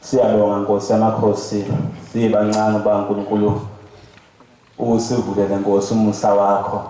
Siyabonga Nkosi yamakhosi siyibancane uba uNkulunkulu usivulele Nkosi umusa wakho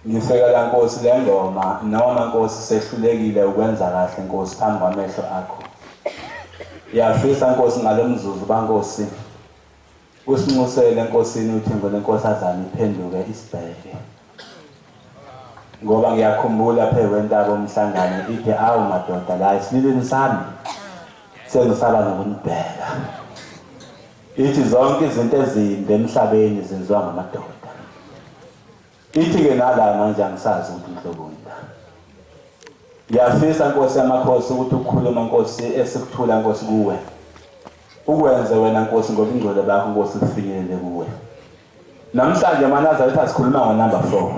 ngisekela Nkosi le ngoma noma Nkosi sehlulekile ukwenza kahle Nkosi phambi kwamehlo akho yafisa Nkosi ngalomzuzu baNkosi Usinxusele enkosini uThembo lenkosazana iphenduke isibheke. Ngoba ngiyakhumbula phezu kwentaba umhlangano ithe awu madoda la isililini sami sengisaba nokunibheka. Ithi zonke izinto ezimbi emhlabeni zenziwa ngamadoda. Ithi-ke nala manje angisazi ukuthi ngihloboni la. Ngiyafisa Nkosi yamakhosi ukuthi ukukhuluma Nkosi esikuthula Nkosi kuwe. Ukwenze wena Nkosi ngoba ingcwele bakho Nkosi kufinyelele kuwe. Namhlanje manazaretha sikhuluma ngo number 4.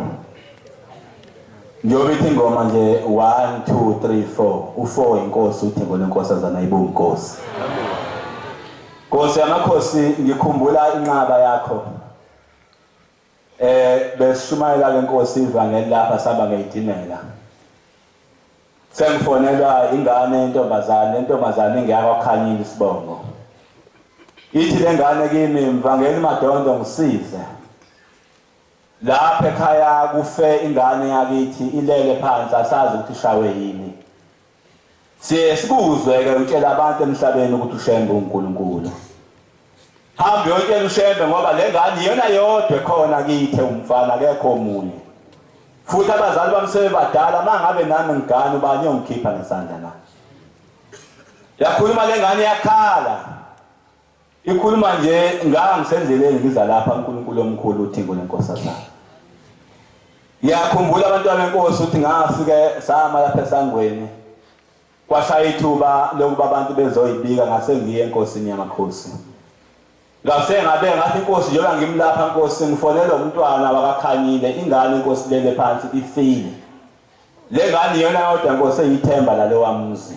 Ngiyobe ithi ingoma nje 1 2 3 4 u4 inkosi uthi ngone nkosazana ibuku Nkosi. Nkosi yamakhosi ngikhumbula inqaba yakho. Eh besishumayela lenkosi ivangeli lapha saba ngeyitimela. Sengifonelwa ingane intombazane, intombazane ingiyaka khanyini isibongo. Ithi lengane kimi mvangeli madondo ngisize. Lapha ekhaya kufe ingane yakithi ilele phansi asazi ukuthi shawe yini. Siye sikuzwe-ke utshela abantu emhlabeni ukuthi uShembe uNkulunkulu. Hamba uyotshela uShembe ngoba le ngane iyona yodwa ekhona kithe umfana akekho omunye. Futhi abazali bami sebebadala uma ngabe nami ngigane ubani yongikhipha ngesandla na? Yakhuluma le ngane yakhala. Ikhuluma nje ngangisenzeleni ngiza lapha uNkulunkulu omkhulu uthingo lenkosazana. Ngiyakhumbula abantwana benkosi ukuthi ngasike sama lapha esangweni kwashaya ithuba lokuba abantu bezoyibika ngase ngiye enkosini yamakhosi. Ngase ngabe ngathi inkosi njengoba ngimlapha inkosi ngifonela umntwana wakakhanyile ingane inkosi lele phansi ifile. Le ngane iyona yodwa inkosi eyithemba lalowa muzi.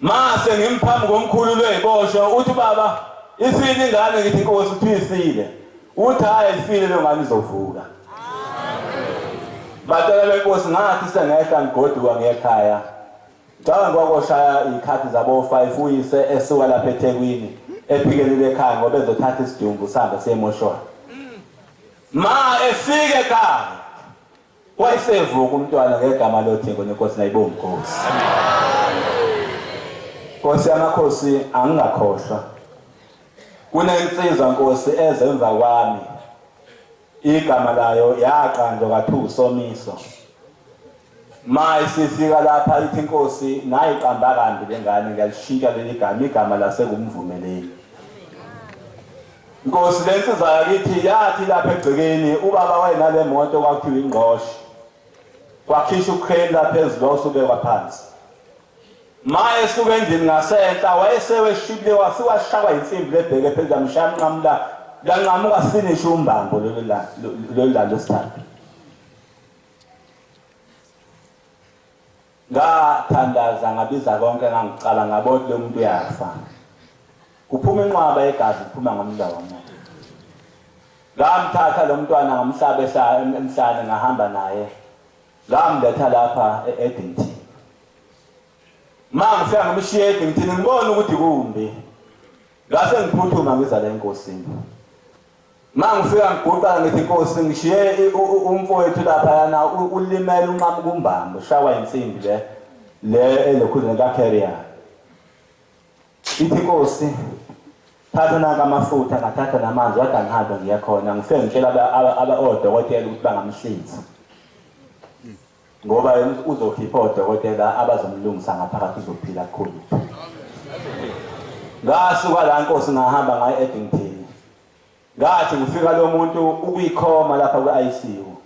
Mase ngimphambi komkhulu lwey'boshwa uthi ubaba isini ingane ngithi inkosi uthi isile uthi hhayi ayifile leyo ngane izovuka batshela benkosi ngathi sengehla ngigoduka ngekhaya ngicabanga kwakoshaya iy'khathi zabo-five uyise esuka lapha ethekwini ephikelile ekhaya ngoba ezothatha isidumbu sihambe siyemoshwana ma efike ekhaya Wayesevuka umntwana ngegama loTheko nenkosi nayibo mkhosi. Nkosi yamakhosi angingakhohlwa. Kunensizwa nkosi ezemva kwami. Igama layo yaqanjwa kathu somiso. Maye sifika lapha ithi inkosi nayiqamba kambi lengane ngiyalishintsha leli gama igama lasekumvumeleni. Nkosi le nsizwa yakithi yathi lapha egcekeni ubaba wayenale moto kwakhiwa ingqosho wakhishwa ukheli lapha ezilo usubekwa phansi ma esuka endlini ngasenhla wayeseweshibile wasiwashaywa insimbi lebheke phezulu yamshaya mnqamula lanqamuka sinishe umbambo lolu lalo sithathu Ngathandaza ngabiza konke ngangicala ngabo ukuthi lo muntu uyafa. Kuphuma inqwaba yegazi kuphuma ngomlomo. Ngamthatha lo mntwana ngamhlaba ehlala emhlane ngahamba naye. Ngamletha lapha e-Edington. Mama ngifika ngimshiye e-Edington ngibona ukuthi kumbi. Ngase ngiphuthuma ngiza la enkosini. Mangifika ngiguqa ngithi Nkosi ngishiye umfowethu lapha yana ulimele unqamu kumbambo shawa insimbi le le elokhuzeni ka carrier. Ithi Nkosi thatha nanka amafutha ngathatha namanzi wada ngihambe ngiya khona ngifike ngitshela aba odokotela ukuthi bangamhlinza. Ngoba uzokhipha odokotela abazomlungisa ngaphakathi uzophila kukhulu. Ngasuka la Nkosi ngahamba ngaye eDington. Ngathi ngifika lo muntu ukuyikhoma lapha kwi-ICU.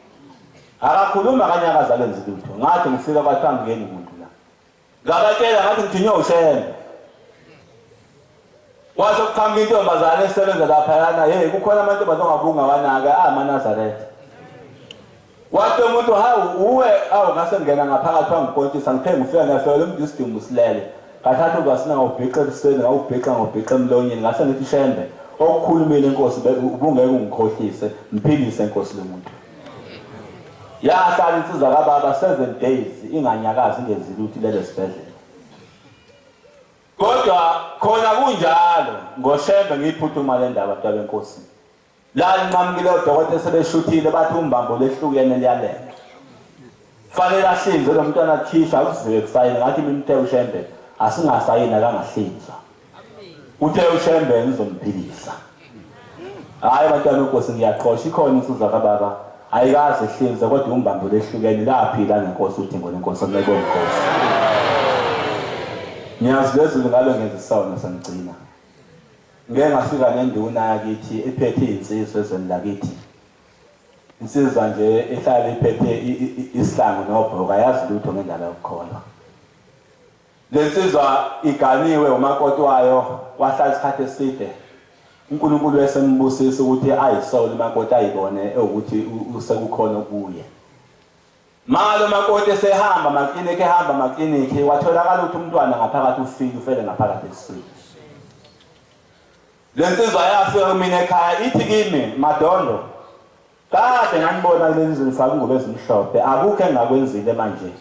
Akakhuluma kanye akazalwe nzilutho. Ngathi ngifika kwathiwa ngeni muntu. Ngabatshela ngathi ngithinywe ushembe. Kwase kuqhamuka intombazane esebenza laphayana, hey kukhona amantombazane ongabunga wanaka amanazaretha. Wathi umuntu hawu uwe awu ngase ngena ngaphakathi wangipontisa ngithe ngifika ngafika lo muntu isidumbu silele. Ngathatha uvasina ngawubhixa ebusweni ngawubhixa ngawubhixa emlonyeni ngase ngithi shembe okukhulumile inkosi ubungeke ungikhohlise mphilise inkosi lo muntu. Yahlala insizwa kababa seven days inganyakazi ingenzi lutho lelo sibhedlela. Kodwa khona kunjalo ngoshembe ngiyiphuthuma le ndaba mntwana wenkosi. La nqamukile odokotela sebeshuthile bathi umbambo lehlukene liyalenga. Fanele ahlinzwe lo mntwana akhishwa akuziwe kusayini ngathi imimthe ushembe asingasayini akangahlinzwa. uthe ushembe ngizomphilisa hayi abantwana uNkosi ngiyaqhosha ikhona insizwa kababa ayikaze ihlinze kodwa umbambo lehlukene laphila ngenkosi udingo lenkosi omlekwe nkosi ngiyazi lezulu ngalo ngenza isona sangigcina ngeke ngafika nenduna yakithi ephethe izinsizwa ezweni lakithi insizwa nje ehlala iphethe isihlangu nobhoka yazi lutho ngendaba yokukholwa Le nsizwa iganiwe umakoti wayo wahlala isikhathi eside. UNkulunkulu esembusisa ukuthi ayisole umakoti ayibone ewukuthi usekukhona okuye. Mali umakoti esehamba amaklinikhi ehamba amaklinikhi watholakala ukuthi umntwana ngaphakathi ufile ufele ngaphakathi esiswini. Le nsizwa yafika kumina ekhaya ithi kimi madondo kade nganibona kuleli zulu faka ingubo ezimhlophe akukho engakwenzile manje.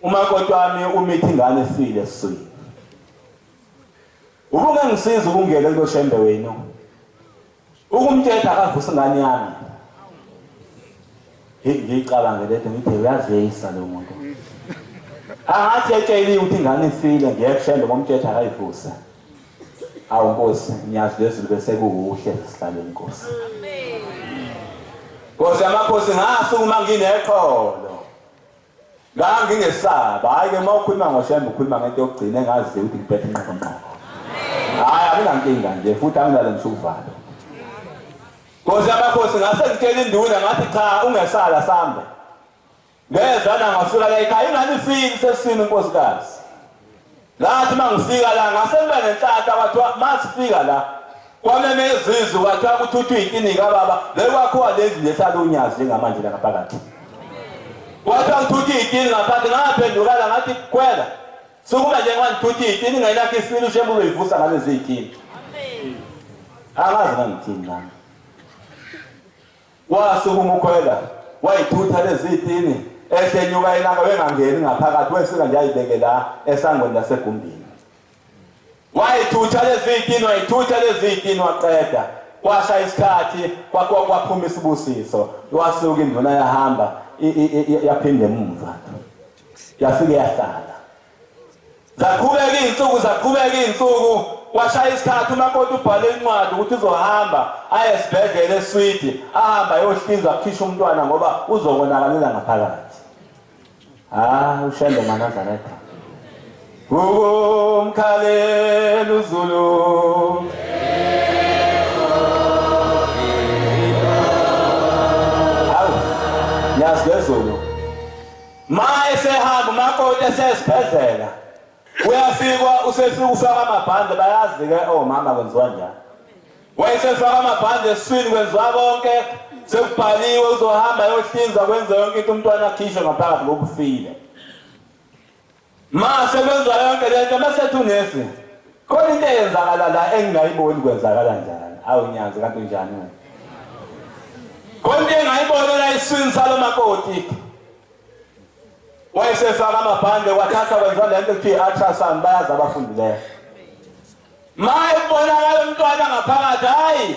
Umakoti wami umithi ingane esile esiswini. Ubunge ngisiza ukungena kulo shembe wenu. Ukumtshela akavusa ingane yami. Ngiyicabanga lethe ngithi uyazeyisa lo muntu. Angathi etsheliwe ukuthi ingane isile ngeke kushembe ngomthetho akayivusa. Awu Nkosi ngiyazi lezulu bese kukuhle sihlale Nkosi. Amen. Nkosi yamakhosi ngasukuma ngineqholo. ngangingesaba hhayi-ke uma ukhuluma ngoshembe ukhuluma ngento yokugcina engaziyo ukuthi ngiphethe inqokonqoko hhayi anginankinga nje futhi anginalo ngisho ukuvalo nkosi yamakhosi ngase ngitshela induna ngathi cha ungesala sambe ngezwa nangasuka layikhaya ingani fini sesisini nkosikazi Ngathi uma ngifika la ngase ngibe nenhlahla kwathiwa uma sifika la kwameme izizwe kwathiwa kuthuthwa iy'kini kababa le kwakhiwa le ndlu lehlala unyazi njengamanje la ngaphakathi kwathiwa ngithuthwa iy'kini ngaphansi ngaphendukala ngathi khwela sukuma njengoba ngithuthwa iy'kini ngenakho isibili ushembe uzoyivusa ngalezi y'kini angazi ngangithini nami Wasukuma uKhwela wayithutha lezitini ehle enyuka elanga wengangeni ngaphakathi wesika nje ayibeke la esangweni lasegumbini wayithutha lezitini wayithutha lezitini waqeda kwasha isikhathi kwaphuma isibusiso wasuka induna yahamba yaphinde emuva yafike yahlala zaqhubeka iy'nsuku zaqhubeka iy'nsuku kwashaya isikhathi umakoti ubhale incwadi ukuthi uzohamba aye esibhedlela eswidi ahamba ayohlinzwa akhishwe umntwana ngoba uzokonakalela ngaphakathi ah ushembe manazareta ukumkhalela uzulu Ma esehamba umakoti esesibhedlela kuyafikwa usefika ufaka amabhande bayazi ke omama oh, kwenziwa njani wayesefaka amabhande esiswini kwenziwa konke sekubhaliwe uzohamba yohlinza kwenze yonke into umntwana akhishwe ngaphakathi ngokufile Mase kwenza yonke lento mase thunesi. Khona into eyenzakala la engingayiboni kwenzakala njani. Awu nyazi kanti unjani wena? Khona into engayibona la iswini salo makoti. Wayesefaka amabhande wathatha wenza lento kuthiwa i-ultrasound bayazi abafundileyo. Maye kubonakala umntwana ngaphakathi hayi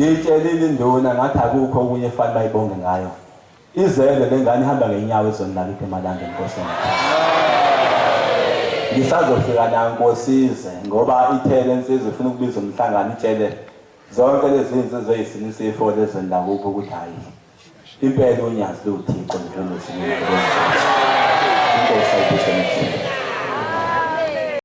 ngiyitshelile induna ngathi akukho okunye efanele bayibonge ngayo izele le ngane ihamba ngenyawo ezonilala ukuthi emalanga enkosini ngisazofika nayo nkosize ngoba ithele insizwa ifuna ukubiza umhlangano itshele Zonke lezi nsizwa ezisilisa ifoni ezweni lakubo ukuthi hhayi impela unyazi liwuthixo njengosinina inkosi ayibusele